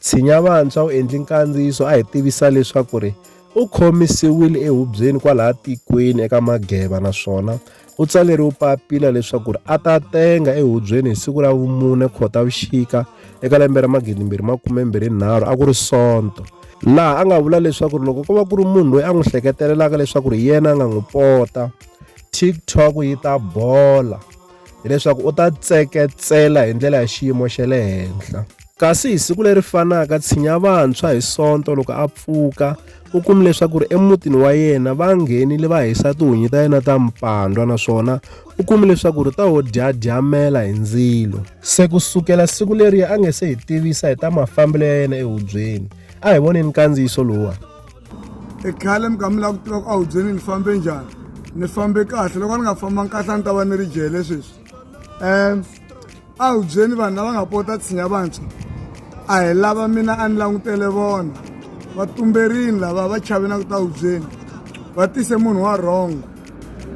Tshinya Vantshwa u endli nkandziyiso a hi tivisa leswaku ri u khomisiwile ehubyeni kwalaha tikweni eka Mageba naswona u tsaleriwe papila leswaku ri a ta tenga ehubyeni hi siku ra vumune Khotavuxika eka lembe ra 2023 a ku ri Sonto laha a nga vula leswaku ri loko ko va ku ri munhu loyi a n'wi hleketelelaka leswaku ri yena a nga n'wi pota TikTok yi ta bola. hileswaku u ta tseketsela hi ndlela ya xiyimo xa le henhla kasi hi siku leri fanaka tshinya vantshwa hi sonto loko a pfuka u kumi leswaku ri emutini wa yena va nghenile va hisa tihunyi ta yena ta mpandwa naswona u kumi leswaku ri ta wo dyadyamela hi ndzilo se ku sukela siku leriya a nge se hi tivisa hi ta mafambelo ya yena ehubyeni a hi voneni kandziyiso lowuwani i khale mi kha mi lava ku tiva ku a wu byeni ni fambe njhani ni fambe kahle loko ni nga fambangi kahle a ni ta va ni ri jele sweswi um a wu byeni vanhu lava nga pota tshinya vantshwa a hi lava mina a ni langutele vona va tumberini lava va chave na ku ta wu byeni va tise munhu wa rhongo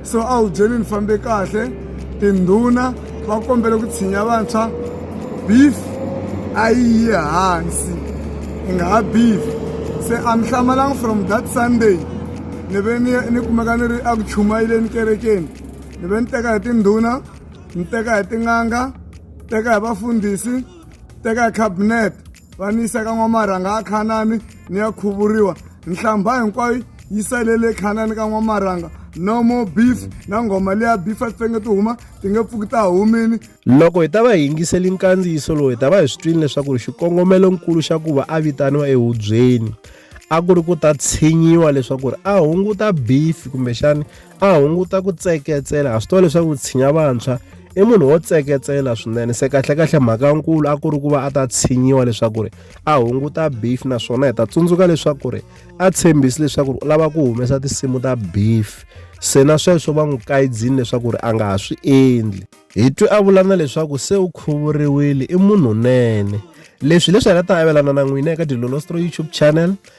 so a wu byeli ni fambe kahle tindhuna va kombele ku tshinya vantshwa beef a yi yi hansi i nga ha beef se a mi hlamalanga from that sunday ni ve ni ni kumeka ni ri eku chumayeleni kerekeni ni ve ni teka hi tindhuna ni teka hi tin'anga teka hi vafundhisi teka hi cabinet va ni yisa ka n'wamarhanga ya khanani ni ya khuvuriwa nhlambha hinkwayo yi salele khanani ka n'wamarhanga no more beef na nghoma leya beef a ti fange ti huma ti nge pfuki ta humini loko hi ta va hi yingiseli nkandziyiso lowu hi ta va hi swi twini leswaku ri xikongomelonkulu xa ku va a vitaniwa ehubyeni a ku ri ku ta tshinyiwa leswaku ri a hunguta beef kumbexani a hunguta ku tseketsela ha swi tiva leswaku ku tshinya vantshwa i munhu wo tseketsela swinene se kahlekahle mhaka nkulu a ku ri ku va a ta tshinyiwa leswaku ri a hunguta beef naswona hi ta tsundzuka leswaku ri a tshembisi leswaku ri u lava ku humesa tinsimu ta beef se na sweswo va n'wi kayidzini leswaku ri a nga ha swi endli hi twe a vula na leswaku se u khuvuriwile i munhunene leswi leswi hi nga ta avelana na n'wina eka dilolostro youtube channel